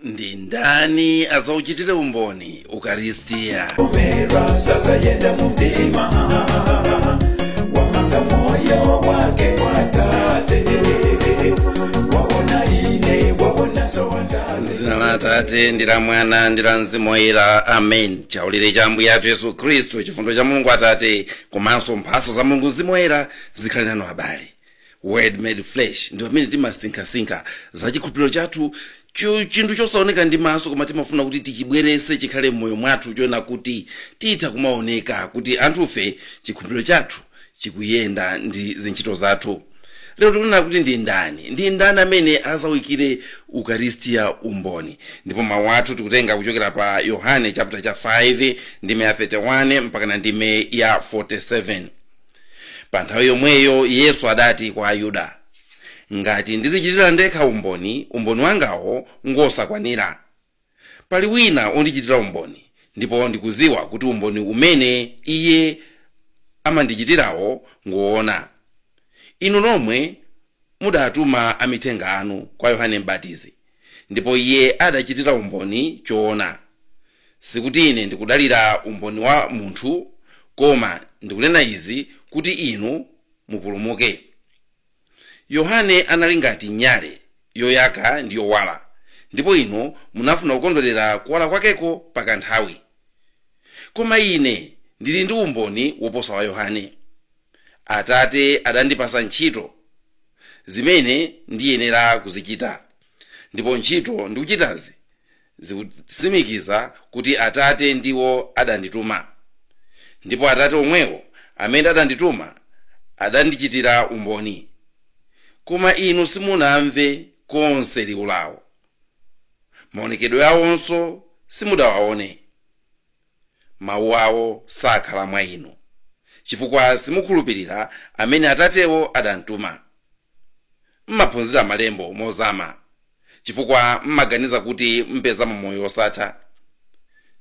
ndi ndani azauchitire umboni ukaristiya Sasa yenda mundima wamanga moyo wake kwa tate waona ine waona sawandale zina la atate ndi la mwana ndi la mzimu woyera amen chaulire cha ambuye athu yesu khristu chifundo cha mulungu atate komanso mphaso za mulungu mzimu woyera zikhale nanu abale word made flesh ndi pamene timasinkhasinkha za chikhulupiriro chathu cho- chinthu chosaoneka ndi maso koma timafuna kuti tichibwerese chikhale m'moyo mwathu choona kuti titha kumaoneka kuti anthufe chikhulupiriro chathu chikuyenda ndi zintchito zathu lero tikunena kuti ndi ndani ndi ndani amene azauchitire ukaristiya umboni ndipo mawu athu tikutenga kuchokera pa yohane chapter cha 5 ndime ya 31 mpakana ndime ya 47 pa nthawi yomweyo yesu adati kwa ayuda ngati ndizichitira ndekha umboni umboni wangawo ngosakwanira pali wina ondichitira umboni ndipo ndikuziwa kuti umboni umene iye amandichitirawo ngoona inu nomwe mudatuma amithenga anu kwa yohane mbatizi ndipo iye adachitira umboni choona. Sikuti ine ndikudalira umboni wa munthu, koma ndikunena izi kuti inu mupulumuke. Yohane anali ngati nyale yoyaka ndi yowala, ndipo inu munafuna kukondwerera kuwala kwakeko pa kanthawi. Koma ine ndili ndi umboni woposa wa Yohane. Atate adandipasa ntchito zimene ndiyenera kuzichita, ndipo ntchito ndikuchitazi zikutsimikiza kuti Atate ndiwo adandituma. Ndipo Atate omwewo amene adandituma adandichitira umboni. Koma inu simunamve konse liwu lao. Maonekedwe aonso simudawaone. Mawu awo sakhala mwa inu, chifukwa simukhulupirira amene Atatewo adamtuma. M'maphunzira Malembo mozama, chifukwa m'maganiza kuti mupezamo moyo wosatha.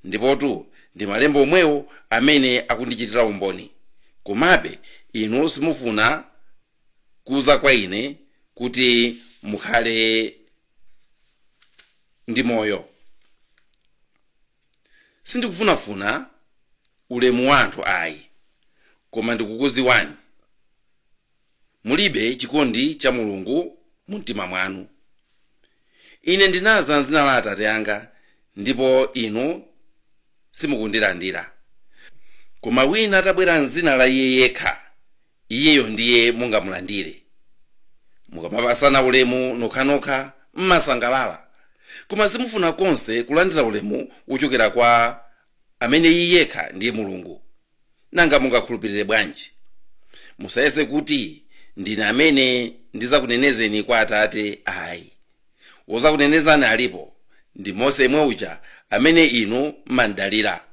Ndipotu ndi Malembo omwewo amene akundichitira umboni, komabe inu simufuna kuza kwa Ine kuti mukhale ndi moyo. sindikufunafuna ulemu wa anthu ayi koma ndikukuziwani mulibe chikondi cha mulungu mu mtima mwanu ine ndinaza mzina la atate anga ndipo inu simukundilandira koma wina atabwera mzina la iye yekha iyeyo ndiye mungamulandire mukamapasana ulemu nokhanokha mmasangalala koma simufuna konse kulandira ulemu wochokera kwa amene iye yekha ndiye mulungu nanga mungakhulupirire bwanji musayese kuti ndine amene ndizakunenezeni kwa atate ayi wozakunenezani alipo ndi mose yemwe uja amene inu mmamdalira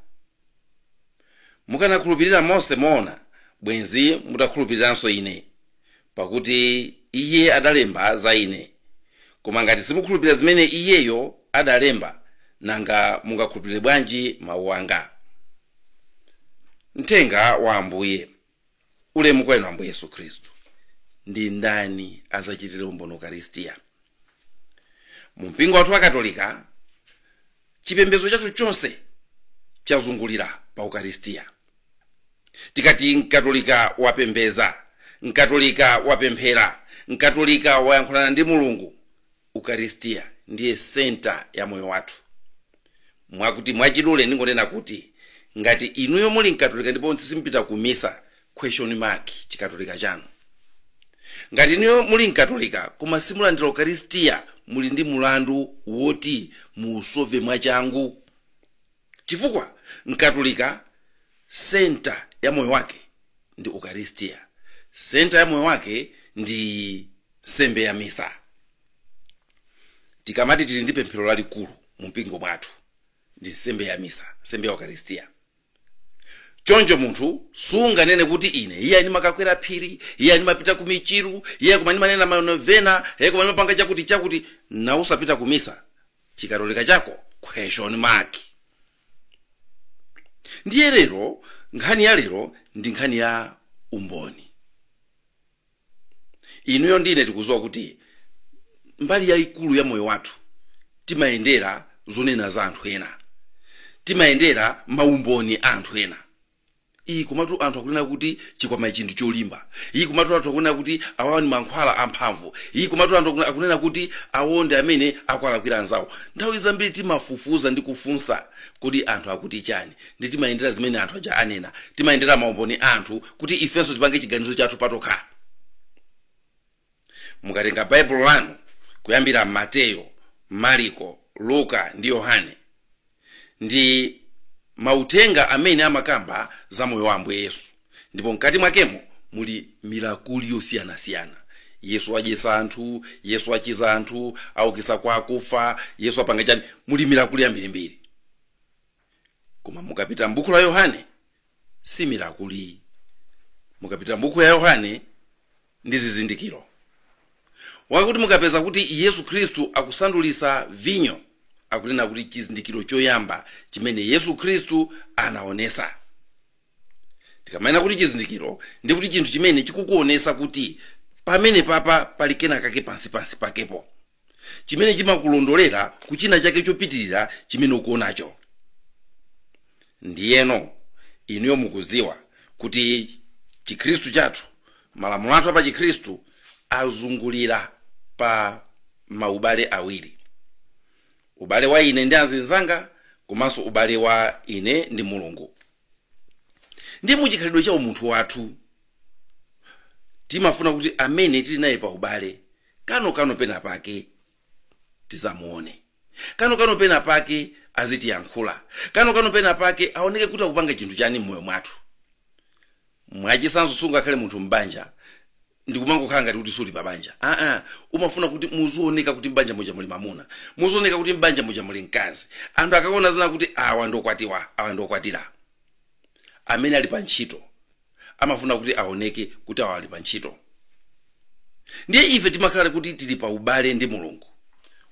mukanakhulupirira mose moona bwenzi mutakhulupiriranso ine pakuti iye adalemba za ine koma ngati simukhulupirira zimene iyeyo adalemba nanga mungakhulupirire bwanji mawu anga mthenga wa ambuye ulemu kwa inu ambuye yesu khristu ndi ndani azauchitire umboni ukaristiya mu mpingo wathu wa katolika chipembedzo chathu chonse chazungulira pa ukaristiya tikati mkatolika wapembeza mkatolika wapemphera mkatolika wayankhulana ndi mulungu ukaristia ndiye senta ya moyo wathu mwakuti mwachidule ndingonena kuti ngati inuyo muli mkatolika ndipo simpita ku misa question mark chikatolika chanu ngati inuyo muli mkatolika koma simulandira ukaristia muli ndi mulandu woti muusove mwachangu chifukwa mkatolika senta ya moyo wake ndi ukaristia senta ya moyo wake ndi nsembe ya misa tikamati tili ndi pemphero lalikulu mu mpingo mwathu ndi nsembe ya misa nsembe ya ukaristia choncho munthu sunganene kuti ine iye ndimakakwera phiri iye ndimapita ku michiru iye koma ndimanena manovena iye koma ndimapanga chakuti chakuti na usapita ku misa chikatolika chako question mark ndiye lero nkhani ya lero ndi nkhani ya umboni inuyo ndine tikuziwa kuti mbali yayikulu ya moyo wathu timayendera zonena za anthu ena timayendera maumboni a anthu ena ii komatu anthu akunena kuti chikwama ichi ndi cholimba ii komatu anthu akunena kuti awawa ndi mankhwala amphamvu ii komatu anthu akuna- akunena kuti awo ndi amene akwalakwira anzawo nthawi zambiri timafufuza ndi kufunsa kodi anthu akuti chani ndi timayendera zimene anthu aja anena timayendera maumboni a anthu kuti ifenso tipange chiganizo chathu patokha mukatenga baibulo lanu kuyambira mateyo mariko luka ndi yohane ndi mauthenga amene amakamba za moyo wa ambuye yesu ndipo mkati mwakemo muli milakuli yosiyanasiyana yesu adyesa anthu yesu achiza anthu aukisa kwa akufa yesu apanga chani muli milakuli yambirimbiri koma mukapita m'buku la yohane si mirakuli mukapita m'buku ya yohane ndi zizindikiro mwakuti mukapeza kuti yesu khristu akusandulisa vinyo akunena kuti chizindikiro choyamba chimene yesu khristu anaonesa tikamanena kuti chizindikiro ndi kuti chinthu chimene chikukuonesa kuti pamene papa pali kena kake pansi pansi pakepo chimene chimakulondolera ku china chake chopitirira chimene ukuonacho ndiyeno inuyo mukuziwa kuti chikhristu chathu malamulo athu a pa chikhristu azungulira pa maubale awiri ubale wa ine ndi anzinzanga komanso ubale wa ine ndi mulungu ndiye muchikhalidwe cha umunthu wathu timafuna kuti amene tili naye pa ubale kano kano pena pake tizamuone kano kano pena pake azitiyankhula kano kano pena pake aoneke kuti akupanga chinthu chani mmoyo mwathu mwachisanzo sungakhale munthu m'banja ndikumangokhala ngati kuti suli pabanja aa umafuna kuti muzioneka kuti m'banja muja muli mamuna muzioneka kuti m'banja muja muli mkazi anthu akaona azinena kuti awa ndokwatiwa awa ndokwatira amene ali pa ntchito amafuna kuti aoneke kuti awa ali pa ntchito ndiye ife timakhala kuti tili pa ubale ndi mulungu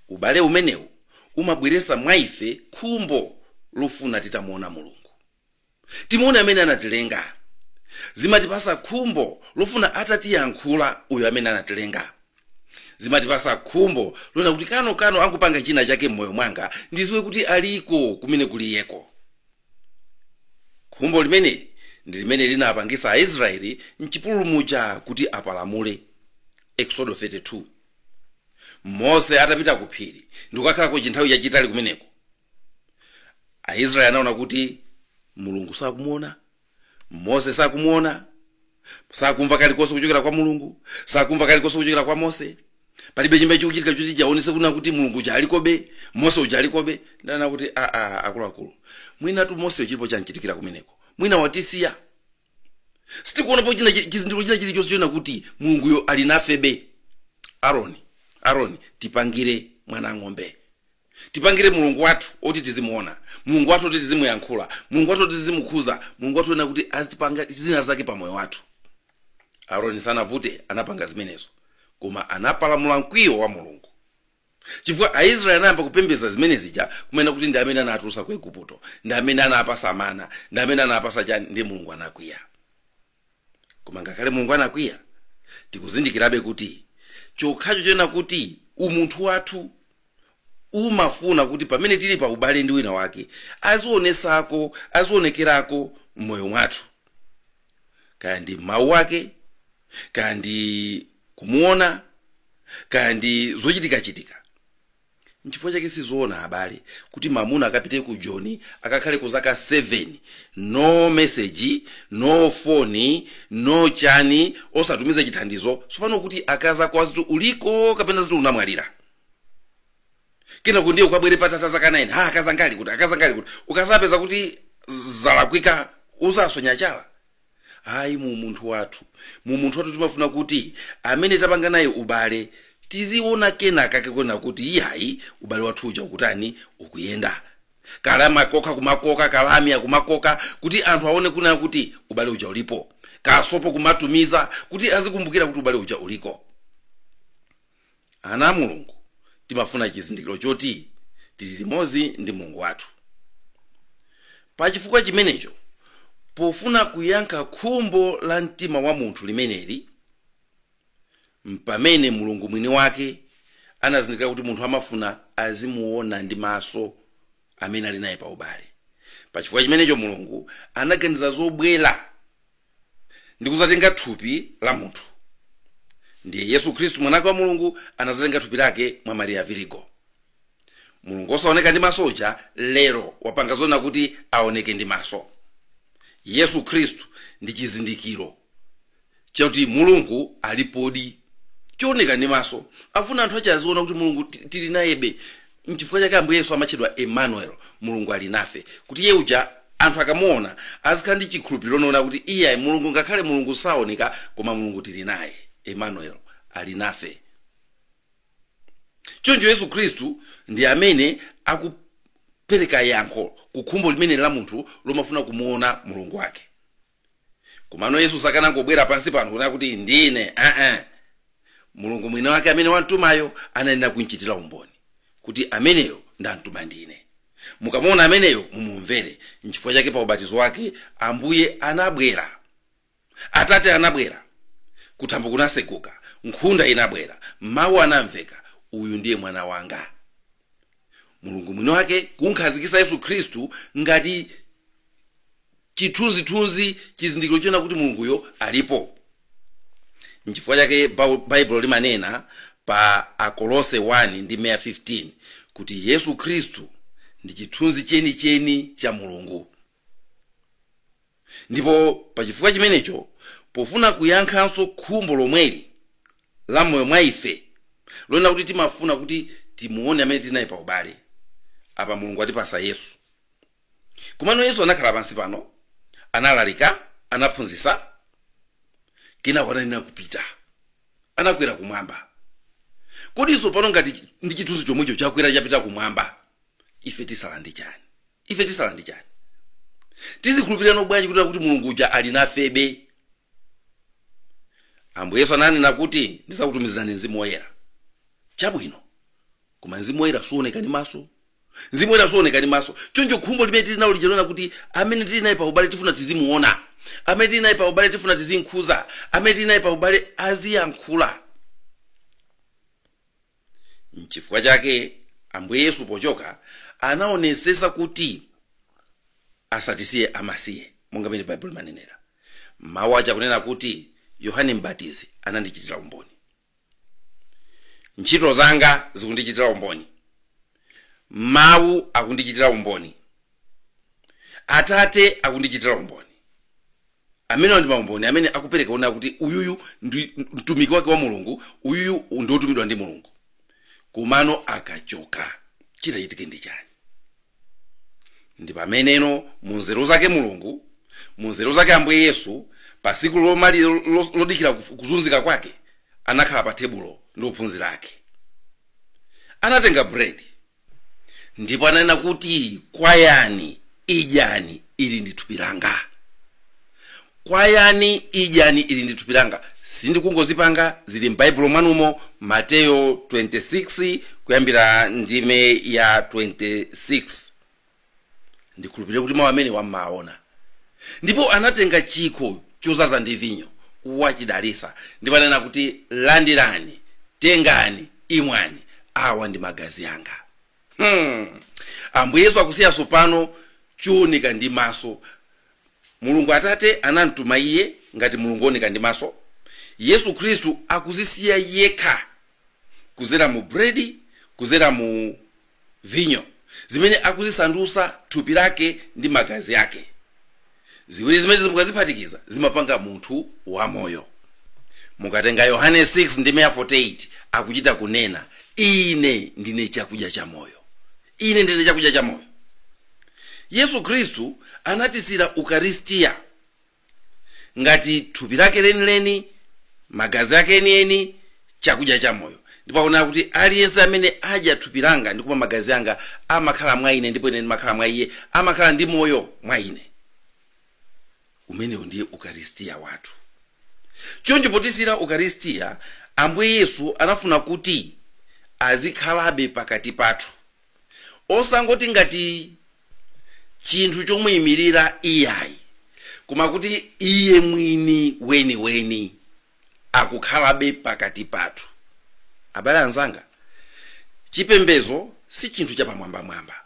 ubale umenewu umabweresa mwa ife khumbo lofuna titamuona mulungu timuone amene anatilenga zimatipasa khumbo lofuna atatiyankhula uyo amene anatilenga zimatipasa khumbo lonena kuti kano kano akupanga china chake m'moyo mwanga ndiziwe kuti aliko kumene kuliyeko khumbo limeneli ndi limene linapangisa aisraeli mchipululu muja kuti apalamule exodo 32 mose atapita ku phiri ndikukakhalako chinthawi chachitali kumeneko aisraeli anaona kuti mulungu sakumuona mose sakumuona sakumva kalikonse kuchokera kwa mulungu sakumva kalikonse kuchokera kwa mose palibe chimene chikuchitika choti chiaonese kunena kuti mulungu uja alikobe mose uja alikobe nde anati kuti aa akuluakulu mwinatu mose chilipo chanchitikira kumeneko mwina watisiya sitikuonapo china chi- chizindikiro china chilichonse chonena kuti mulunguyo ali nafebe aroni aroni tipangire mwana ng'ombe tipangire mulungu wathu oti tizimuona mulungu wathu oti tizimuyankhula mulungu wathu oti tizimukhuza mulungu wathu onena kuti azitipanga zina zake pa moyo wathu aroni sanavute anapanga zimenezo koma anapalamula mkwiyo wa mulungu chifukwa aisraeli anayamba kupembedza zimene zija kumanena kuti ndi amene anatulusa ku igupto ndi amene anapasa mana ndi amene anapasa chani ndi mulungu anakwiya koma ngakhale mulungu anakwiya tikuzindikirabe kuti chokhacho chonena kuti umunthu wathu umafuna kuti pamene tili pa ubale ndi wina wake azionesako azionekerako mmoyo mwathu kaya ndi mawu ake kaya ndi kumuona kaya ndi zochitikachitika Nchifukwa chake sizoona abale kuti mamuna akapite ku Joni akakhaleko zaka 7 no message no phone no chani osatumiza chithandizo tsopano kuti akazi ako aziti uliko kapena aziti unamwalira kenako ndiye ukabwere patatha zaka 9 ha akazi anga ali kuti akazi anga ali kuti ukazapeza kuti zalakwika uzasonya chala ayi mu umunthu wathu mu umunthu wathu timafuna kuti amene tapanga naye ubale tiziona kena kake koona kuti iyayi ubale wathu uja ukutani ukuyenda kalamya kumakoka kalamya kumakoka kuti anthu aone kuna kuti ubale uja ulipo kasopo kumatumiza kuti azikumbukira kuti ubale uja uliko Ana a Mulungu timafuna chizindikiro choti tili limodzi ndi Mulungu wathu. Pachifukwa chimenecho, pofuna kuyankha khumbo la mtima wa munthu limeneli, m'pamene Mulungu mwini wake anazindikira kuti munthu amafuna azimuona ndi maso amene ali naye pa ubale pachifukwa chimenecho mulungu anaganiza zobwera ndi kuzatenga thupi la munthu ndiye yesu khristu mwanake wa mulungu anazatenga thupi lake mwa mariya virigo mulungu osaoneka ndi maso uja lero wapanga zonena kuti aoneke ndi maso yesu khristu ndi chizindikiro chakuti mulungu alipodi chioneka ndi maso afuna anthu ache aziona kuti mulungu tili nayebe nchifukwa chake ambuye yesu amatchedwa emmanuel mulungu ali nafe kuti iye uja anthu akamuona azikhala ndi chikhulupiriro chonena kuti iye mulungu ngakhale mulungu saoneka koma mulungu tili naye emmanuel ali nafe choncho yesu khristu ndi amene akupereka yankho ku khumbo limene la munthu lomafuna kumuona mulungu wake komano yesu sakanangobwera pansi pano kunena kuti ndine aa mulungu mwini wake amene wamtumayo anayenera kumchitira umboni kuti ameneyo ndamtuma ndine mukamuona ameneyo mumumvere nchifukwa chake pa ubatizo wake ambuye anabwera atate anabwera kuthambo kunaseguka nkhunda inabwera mawu anamveka uyu ndiye mwana wanga mulungu mwini wake kumkhazikisa yesu khristu ngati chithunzithunzi chizindikiro chonena kuti mulunguyo alipo nchifukwa chake Bau- baibulo limanena pa akolose 1 ndime ya 15 kuti yesu khristu ndi chithunzi chenicheni cha mulungu ndipo pa chifukwa chimenecho pofuna kuyankhanso khumbo lomweli la moyo mwa ife lonena kuti timafuna kuti timuone amene tili naye pa ubale apa mulungu atipasa yesu Komano Yesu anakhala pansi pano, analalika, anaphunzisa, kenako anayenera kupita. Anakwera kumwamba. Kodi tsopano ngati chi- ndi chithunzi chomwecho chakwera chapita kumwamba, ife tisala ndi chani? Ife tisala ndi chani? Tizikhulupirirano bwanji kuti kuti Mulungu uja ali nafebe? Ambuye Yesu ananena kuti ndizakutumizirani mzimu woyera. Chabwino. Koma mzimu woyera suoneka ndi maso, mzimu woyera suoneka ndi maso choncho khumbo limene tili nalo lija lonena kuti amene tili naye pa ubale tifuna tizimuona amene tili naye pa ubale tifuna tizimkhuza amene tili naye pa ubale aziyankhula nchifukwa chake ambuye yesu pochoka anaonesesa kuti asatisiye amasiye monga mene baibulo limanenera mawu aja kunena kuti yohane mbatizi anandichitira umboni ntchito zanga zikundichitira umboni mawu akundichitira umboni atate akundichitira umboni amenewa ndi maumboni amene akupereka onena kuti uyuyu ndi mtumiki wake wa mulungu uyuyu ndi wotumidwa ndi mulungu komano akachoka chitachitike ndi chani ndi pameneno mu nzeru zake mulungu mu nzeru zake ambuye yesu pa tsiku lomaliza lo- lodikira kuf- kuzunzika kwake anakhala pa tebulo ndi ophunzira ake anatenga bredi ndipo ananena kuti kwayani idyani ili ndi thupi langa kwayani idyani ili ndi thupi langa sindikungozipanga zili m'baibulo mwanumo mateyo 26 kuyambira ndime ya 26 ndikhulupirire kuti mawu amene mumawaona ndipo anatenga chikho chozaza ndi vinyo wachidalisa ndipo anena kuti landirani tengani imwani awa ndi magazi anga hmm. ambuye yesu akusiyanso pano chooneka ndi maso Mulungu Atate anamtuma Iye ngati Mulungu oneka ndi maso, Yesu Khristu akuzisiya yekha kuzera mu bredi, kuzera mu vinyo, zimene akuzisandusa thupi lake ndi magazi ake. Ziwiri zimenezi mukaziphatikiza zimapanga munthu wamoyo. Mukatenga Yohane 6 ndime ya 48 akuchita kunena, Ine ndine chakudya cha moyo. Ine ndine chakudya chamoyo. Yesu Khristu anatisiyira Ukaristia ngati thupi lake lenileni, magazi ake enieni, chakudya chamoyo. Ndipo akunena kuti aliyense amene adya thupi langa ndi kumwa magazi anga amakhala mwa ine ndipo ine ndimakhala mwa iye, amakhala ndi moyo mwa ine. umenewu ndiye ukaristiya wathu choncho potisiyira ukaristiya ambuye yesu anafuna kuti azikhalabe pakati pathu osangoti ngati chinthu chomuyimirira iyayi koma kuti iye mwini weniweni akukhalabe pakati pathu abale anzanga chipembedzo si chinthu chapamwambamwamba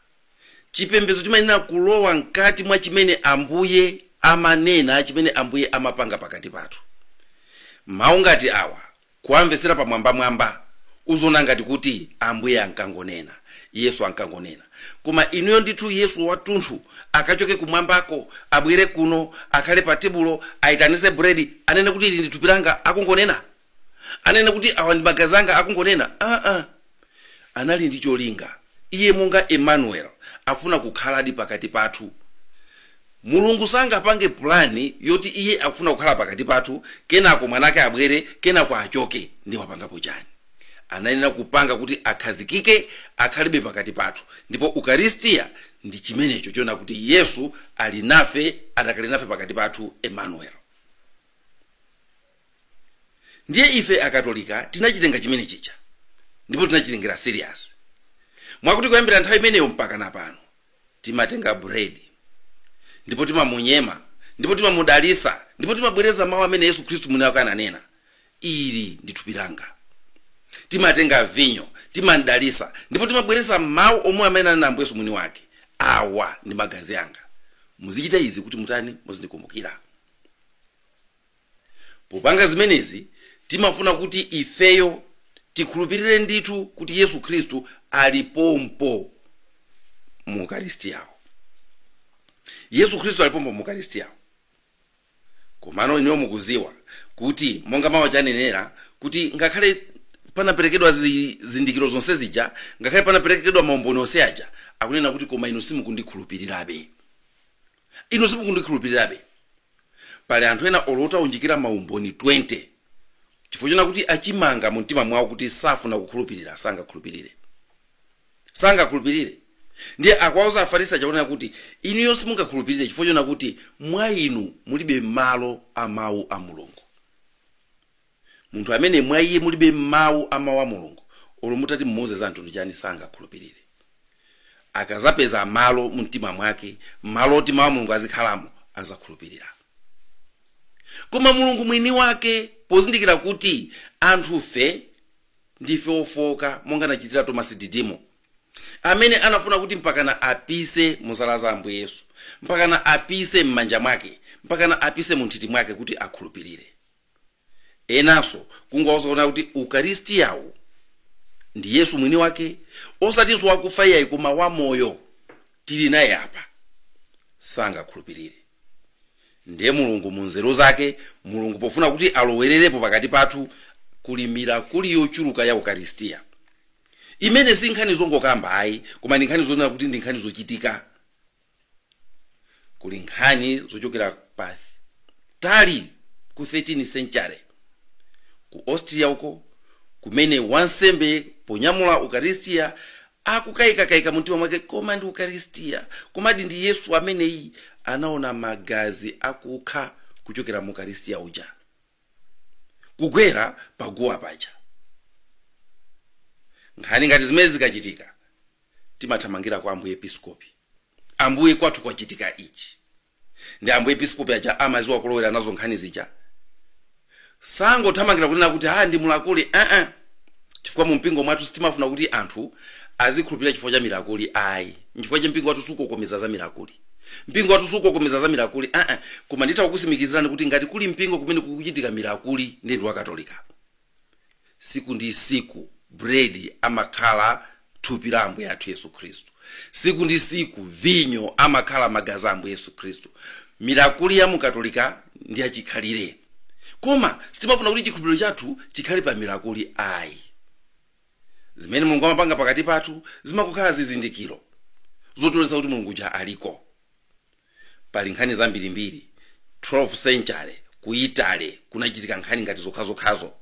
Chipembedzo chimayenera kulowa mkati mwa chimene Ambuye amanena, chimene Ambuye amapanga pakati pathu. Mawu ngati awa, kuwamvetsera pamwambamwamba, uziona ngati kuti Ambuye ankangonena, Yesu ankangonena. Koma inuyo ndithu, Yesu wathunthu akachoke kumwambako, abwere kuno, akhale pa tebulo, aitanitse buredi, anene kuti ili ndi thupi langa, akungonena? anene kuti awa ndi magazi anga akungonena aa anali ndi cholinga iye monga emmanuel afuna kukhaladi pakati pathu mulungu sangapange pulani yoti iye afuna kukhala pakati pathu kenako mwanake abwere kenako achoke ndi wapangapo chani anayenera kupanga kuti akhazikike akhalebe pakati pathu ndipo ukaristiya ndi chimenecho chona kuti yesu ali nafe adakali nafe pakati pathu emmanuel ndiye ife akatolika tinachitenga chimene chija ndipo tinachitengera serious mwakuti kuyambira nthawi imeneyo mpaka na pano timatenga bread ndipo timamunyema ndipo timamudalisa ndipo timabwereza mawu amene yesu khristu mwini wake ananena ili ndi thupi langa timatenga vinyo timamdalisa ndipo timabwereza mawu omwewo amene ananena ambuye yesu mwini wake awa ndi magazi anga muzichita izi kuti mutani muzindikumbukira Popanga zimenezi, timafuna kuti ifeyo tikhulupirire ndithu kuti Yesu Khristu ali pompo mu Ukaristiyawo. Yesu Khristu ali pompo mu Ukaristiyawo. Komano inuyo mukudziwa kuti monga mawu chanenera kuti ngakhale panaperekedwa zizindikiro zonse zija, ngakhale panaperekedwa maumboni onse aja, akunena kuti koma inu simukundikhulupirirabe. Inu simukundikhulupirirabe. pali anthu ena olo utawaunjikira maumboni 20 chifukwa chona kuti achimanga mu mtima mwawo kuti safuna kukhulupirira sangakhulupirire sangakhulupirire ndiye akwauza afarisi chakunena kuti inuyo simungakhulupirire chifukwa chona kuti mwa inu mulibe malo a mawu a mulungu Munthu amene mwa iye mulibe mawu a mawu a Mulungu, olo mutati mumuuze za mtundu chani sangakhulupirire. Akazapeza malo mumtima mwake, malo oti mawu a Mulungu azikhalamo, azakhulupirira. Koma Mulungu mwini wake pozindikira kuti anthufe ndife ofooka monga anachitira Tomasi Didimo, amene anafuna kuti mpakana apise mu zala za Ambuye Yesu, mpakana apise m'manja mwake, mpakana apise mu nthiti mwake kuti akhulupirire. enanso kungowauza kunena kuti ukaristiyawu ndi yesu mwini wake osatinso wakufa iyayi koma wamoyo tili naye apa sangakhulupirire ndiye mulungu mu nzeru zake mulungu pofuna kuti alowererepo pakati pathu kuli mirakuli yochuluka ya ukaristiya imene si nkhani zongokamba ayi koma ndi nkhani zonena kuti ndi nkhani zochitika kuli nkhani zochokera pa tali ku 13 century ku austria uko kumene wansembe ponyamula ukaristiya akukayikakayika mumtima mwake koma ndi ukaristiya komadi ndi yesu ameneyi anaona magazi akukha kuchokera mu ukaristiya uja kugwera paguwa paja. Nkhani ngati zimenezi zikachitika timathamangira kwa ambuye episkopi, ambuye kwathu kwachitika ichi, ndiye ambuye episkopi aja amaziwa kulowera nazo nkhani zija, sangothamangira kunena kuti ha ndi mirakuli aa, chifukwa mu mpingo mwathu sitimafuna kuti anthu azikhulupirira chifukwa cha mirakuli ayi nchifukwa chake mpingo wathu sukokomeza za mirakuli mpingo wathu sukokomeza za mirakuli aa koma nditha kukusimikizirani kuti ngati kuli mpingo kumene kukuchitika mirakuli ndi ndi wakatolika tsiku ndi tsiku bredi amakhala thupi la ambuye athu yesu khristu tsiku ndi tsiku vinyo amakhala magazi a ambuye yesu khristu mirakuli ya mukatolika ndi yachikhalire koma sitimafuna kuti chikhulupiriro chathu chikhale pa mirakuli ayi Zimene Mulungu amapanga pakati pathu zimangokhala zizindikiro zotionetsa kuti Mulungu uja aliko. Pali nkhani zambirimbiri, 12 century ku Italy kunachitika nkhani ngati yokhayokhayo.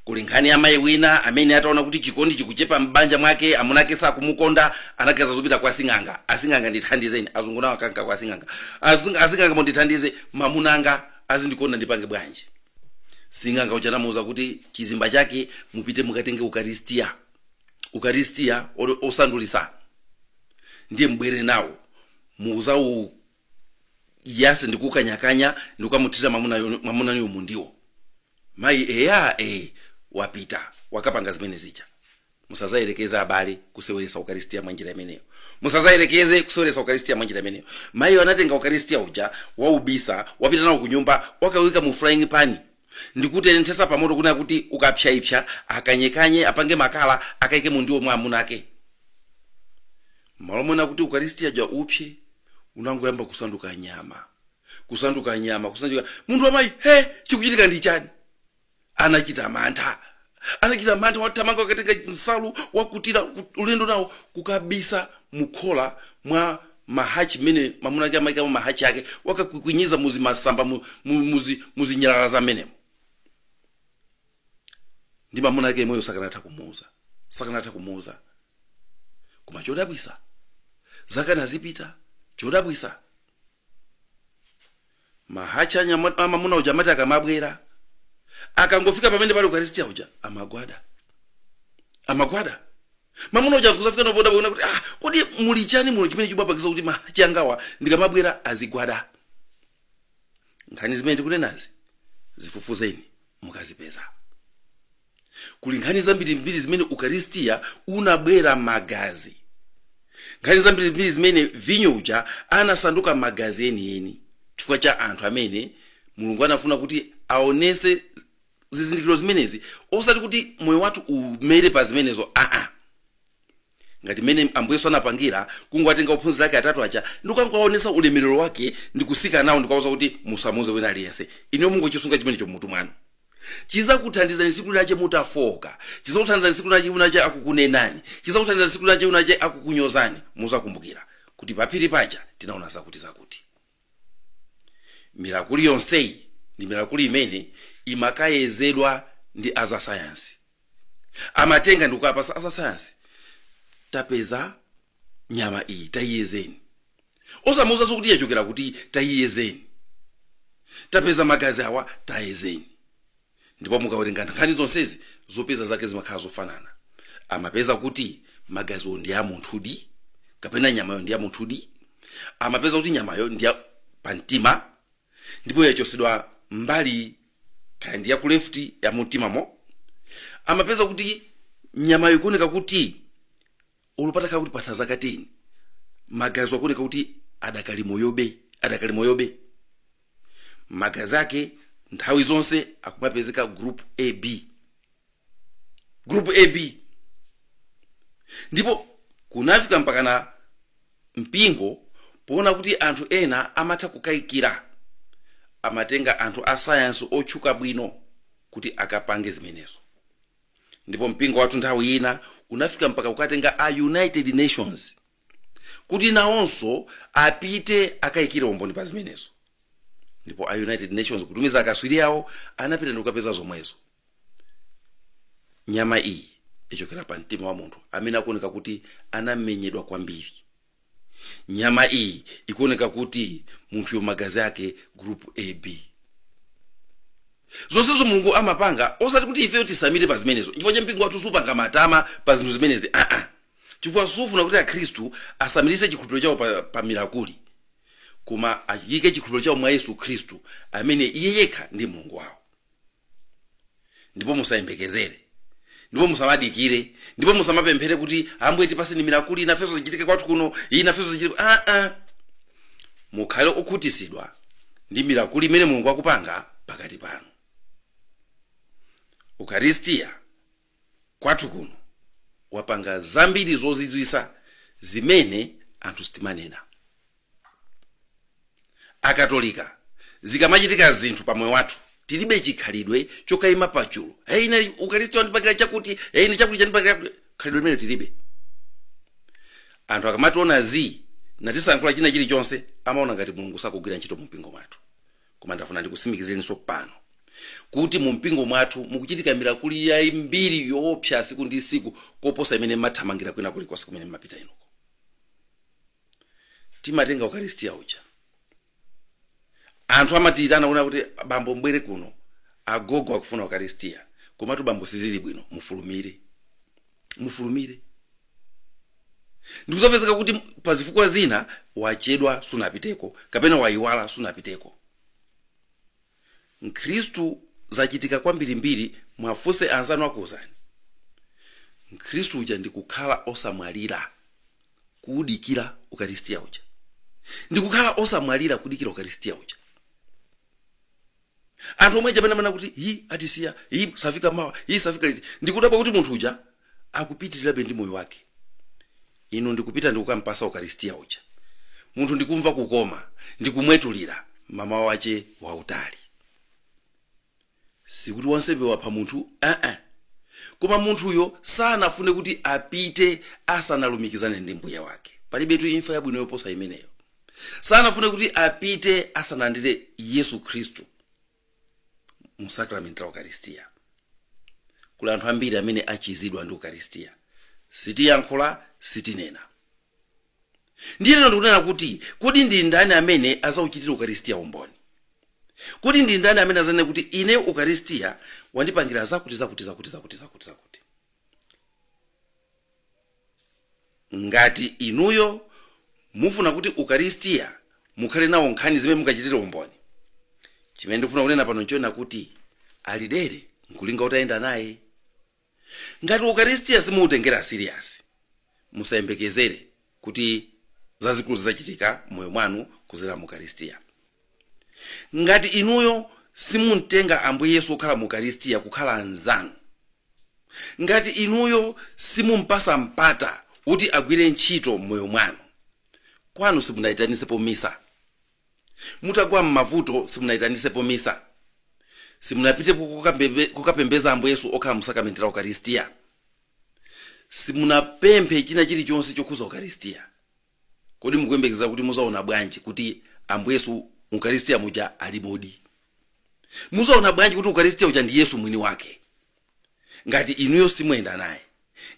Kuli nkhani ya mayi wina amene ataona kuti chikondi chikuchepa m'banja mwake, amuna ake sakumukonda, anaganiza zopita kwa sing'anga. Asing'anga ndithandizeni, azungu nawo akanka kwa sing'anga. Asing- Asing'anga mundithandize, mamuna wanga azindikonda ndipange bwanji? sing'anga uja anamuuza kuti chizimba chake mupite mukatenge ukaristiya ukaristiya osandulitsa ndiye mubwere nawo muzauyase ndikukanyakanya ndikukamuthira mamunayo mu ndiwo mayi eya e wapita wakapanga zimene zija musazayerekeze abale kuseweretsa ukaristia mwa njira imeneyo musazayerekeze kuseweretsa ukaristia mwa njira imeneyo mayi anatenga ukaristia uja waubisa wapita nawo ku nyumba wakauyika mu frying pan ndikuutenthesa pamoto kunena kuti ukapsyaipsya akanyekanye apange makala akaike mu ndiwo mwa amuna ake malo monena kuti ukaristia uja upse unangoyamba kusanduka nyama kusanduka nyama kusanduka munthu wamayi he chikuchitika ndi chani anachita mantha anachita mantha wathamanga wakatenga nsalu wakutira ku- ulendo nawo kukabisa mukhola mwa mahachi mmene mamuna ake amaikamo mahachi ake wakakwikwinyeza mu zimasamba mu- mu- muzi- muzinyalala za mmenemo ndi mamuna ake yemweyo sakanatha kumuuza sakanatha kumuuza koma chodabwisa zaka nazipita chodabwisa Mahatchi a nya- a mamuna uja amati akamabwera, akangofika pamene pali Ukaristia uja amagwada, amagwada. Mamuna uja nkuzafika napo kudabwa kunena kuti ah, kodi muli chani muno chimene chimapangisa kuti mahatchi angawa ndikamabwera azigwada? Nkhani zimene tikunenazi zifufuzeni mukazipeza. kuli nkhani zambirimbiri zimene ukaristiya unabwera magazi nkhani zambirimbiri zimene vinyo uja anasanduka magazi enieni chifukwa cha anthu amene mulungu anafuna kuti aonese zizindikiro zimenezi osati kuti moyo wathu umere pa zimenezo aa ngati mmene ambuye yesu anapangira kungowatenga ophunzira ake atatu aja ndikukangowaonesa ulemerero wake ndikusika nawo ndikuwauza kuti musamuze wina aliyense inuyo mungochisunga chimenecho mmutu mwanu chizakuthandizani siku linache mutafooka chizakuthandizani siku linache unache akukunenani chizakuthandizani siku linache winache akukunyozani muzakumbukira kuti paphiri paja tinaona zakuti zakuti mirakuli yonseyi ndi mirakuli imene imakayezedwa ndi azasayansi amatenga ndikukapasa azasayansi tapeza nyama iyi tayiyezeni osamuwuzaso kuti yachokera kuti tayiyezeni tapeza magazi awa tayezeni ndipo mukawerenga nkhani zonsezi zopeza zake zimakhala zofanana amapeza kuti magaziwo ndi a munthudi kapena nyamayo ndi ya munthudi amapeza kuti nyamayo ndi ya pamtima ndipo yachosedwa mbali kaya ndi yaku left ya mumtimamo amapeza kuti nyamayo ikuoneka kuti olo patakhala kuti patha zaka 10 magazi akuoneka kuti adakali moyobe adakali moyobe magazi ake nthawi zonse akumapezeka group ab group ab ndipo kunafika mpakana mpingo poona kuti anthu ena amatha kukayikira amatenga anthu a sayansi otchuka bwino kuti akapange zimenezo ndipo mpingo wathu nthawi ina unafika mpaka kukatenga a united nations kuti nawonso apite akayikire umboni pa zimenezo ndipo a united nations kutumiza akatswiri awo anapita ndikukapeza zomwezo nyama iyi ichokera pa mtima wa munthu amene akuoneka kuti anamenyedwa kwambiri nyama iyi ikuoneka kuti munthuyo magazi ake group ab zonsezo mulungu amapanga osati kuti ifeyo titsamire pa zimenezo nchifukwa chake mpingo wathu suupanga matama pa zinthu zimenezi aa chifukwa suufuna kuti akhristu atsamiritse chikhulupiriro chawo pa, pa mirakuli koma achiike chikhulupiriro chawo mwa yesu khristu amene iye yekha ndi mulungu wawo ndipo musayembekezere ndipo musamadikire ndipo musamapemphere kuti ambuye tipatseni mirakuli nafenso zichitike kwathu kuno iyi nafenso zichitike ah, ah. mukhale okhutitsidwa ndi mirakuli imene mulungu akupanga pakati panu ukaristiya kwathu kuno wapanga zambiri zozizwitsa zimene anthu sitimanena akatolika zikamachitika zinthu pa moyo wathu tilibe chikhalidwe chokayima pachulu hey, ine ukaristiya wandipangira chakuti hey, ine chakuti chandipangira chakuti." khalidwe limenelo tilibe anthu akamationa zii osatiyankhula china chilichonse amaona ngati mulungu sakugwira ntchito mu mpingo mwathu koma ndafuna ndikutsimikizireninso pano kuti mu mpingo mwathu mukuchitika mirakuli yambiri yoopsa tsiku ndi tsiku koposa imene mathamangira kwina kulikonse kumene mmapita inuko timatenga ukaristia uja anthu amatiyitana kunena kuti abambo mbwere kuno agogo akufuna ukaristia komatu bambo sizili bwino mufulumire mufulumire ndikudzapezeka kuti pa zifukwa zina wachedwa sunapiteko kapena wayiwala sunapiteko mkhristu zachitika kwambirimbiri mwafunse anzanu akuuzani mkhristu uja ndikukhala osamwalira kudikira ukaristiya uja ndikukhala osamwalira kudikira ukaristiya uja anthu omwe aja amene amanena kuti yi atisiya yi safika mawa yi safika liti ndikudabwa kuti munthu uja akupitirirabe ndi moyo wake inu ndikupita ndikukampasa ukaristiya uja munthu ndikumva kukoma ndikumwetulira mmawa mwake wautali sikuti wansembe wapha munthu aa koma munthuyo sanafune kuti apite asanalumikizane ndi mbuye wake palibetu imfa yabwino yoposa imeneyo sanafune kuti apite asanalandire yesu khristu mu sakramenti la ukaristiya kuli anthu ambiri amene achizidwa ndi ukaristiya sitiyankhula sitinena ndiye lero ndikunena kuti kodi ndi ndani amene azauchitire ukaristiya umboni kodi ndi ndani amene azanene kuti ine ukaristiya wandipangira zakuti zakuti zakuti zakuti zakuti zakuti Ngati inuyo mufuna kuti Ukaristia mukhale nawo nkhani zimene mukachitire umboni, chimene ndikufuna kunena pano nchonena kuti Alidere nkulinga utayenda naye. Ngati Ukaristia simuutengera serious, musayembekezere kuti zazikulu zidzachitika m'moyo mwanu kudzera mu Ukaristia. Ngati inuyo simumtenga Ambuye Yesu okhala mu Ukaristia kukhala anzanu, ngati inuyo simumpasa mpata kuti agwire ntchito mmoyo mwanu, kwanu simunaitanisepo misa, mutagwa mmavuto simunaitanisepo misa, simunapitepo kukapembeza Ambuye Yesu okhala mu sakramenti la Ukaristia, simunapemphe china chilichonse chokhuza Ukaristia, Kodi mukuyembekeza kuti muzaona bwanji kuti Ambuye Yesu mukaristiya muja alimodi? Muzaona bwanji kuti ukaristiya uja ndi Yesu mwini wake? Ngati inuyo simuyenda naye,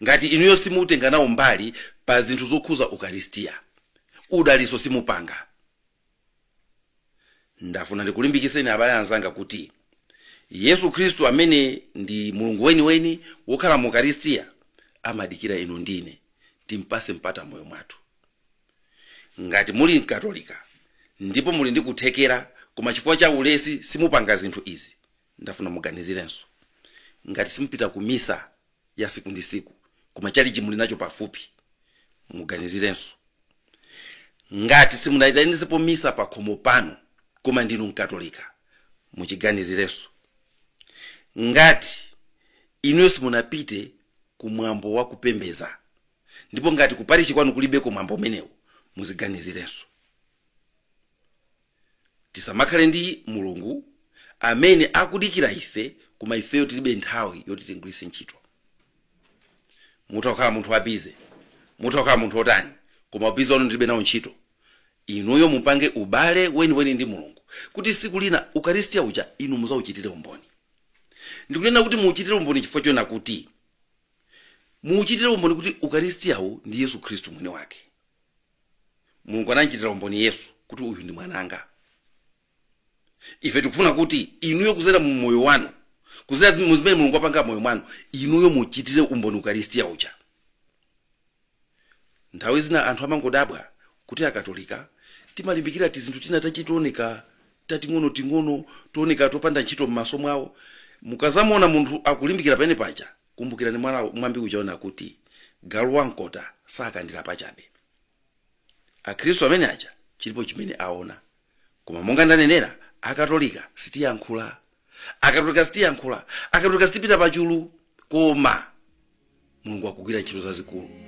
ngati inuyo simutenga nawo mbali pa zinthu zokhuza ukaristiya, udaliso simupanga. ndafuna ndikulimbikiseni abale anzanga kuti yesu khristu amene ndi mulungu weniweni wokhala mu ukaristiya amadikira inu ndine timpase mpata moyo mwathu ngati muli mkatolika ndipo muli ndi kuthekera koma chifukwa cha ulesi simupanga zinthu izi ndafuna muganizirenso ngati simupita ku misa ya siku ndi siku koma chalichi muli nacho pafupi muganizirenso ngati simunayitanisepo misa pa khomo panu koma ndinu mkatolika muchiganizirenso ngati inuyo simunapite ku mwambo wa kupembeza ndipo ngati kuparishi kwanu kulibeko mwambo umenewu muziganizirenso tisamakhale ndi mulungu amene akudikira ife koma ifeyo tilibe nthawi yoti timgwiritse ntchito mutha kukhala munthu wabize mutha kukhala munthu wotani koma ubize wanu ndilibe nawo ntchito inuyo mupange ubale weniweni ndi mulungu kuti siku lina ukaristiya uja inu muzauchitire umboni ndikunena kuti muuchitire umboni chifukwa chonena kuti muuchitire umboni kuti ukaristiyawu ndi yesu khristu mwini wake mulungu anamchitira umboni yesu kuti uyu ndi mwananga ife tikufuna kuti inuyo kuzera mu moyo wanu kuzera mu zimene mulungu apanga moyo wanu inuyo muchitire umboni ukaristiya uja nthawi zina anthu amangodabwa kuti akatolika timalimbikira tizinthu tina tooneka tating'onoting'ono tooneka topanda ntchito m'maso mwawo mukazamuona munthu akulimbikira pene paja Kumbukirani mwambi uja onena kuti galu wa mkota sakandira pachabe. Akhristu amene aja chilipo chimene aona. Koma monga ndanenera, Akatolika sitiyankhula. Akatolika sitiyankhula. Akatolika sitipita pachulu. Koma Mulungu akugwira ntchito zazikulu.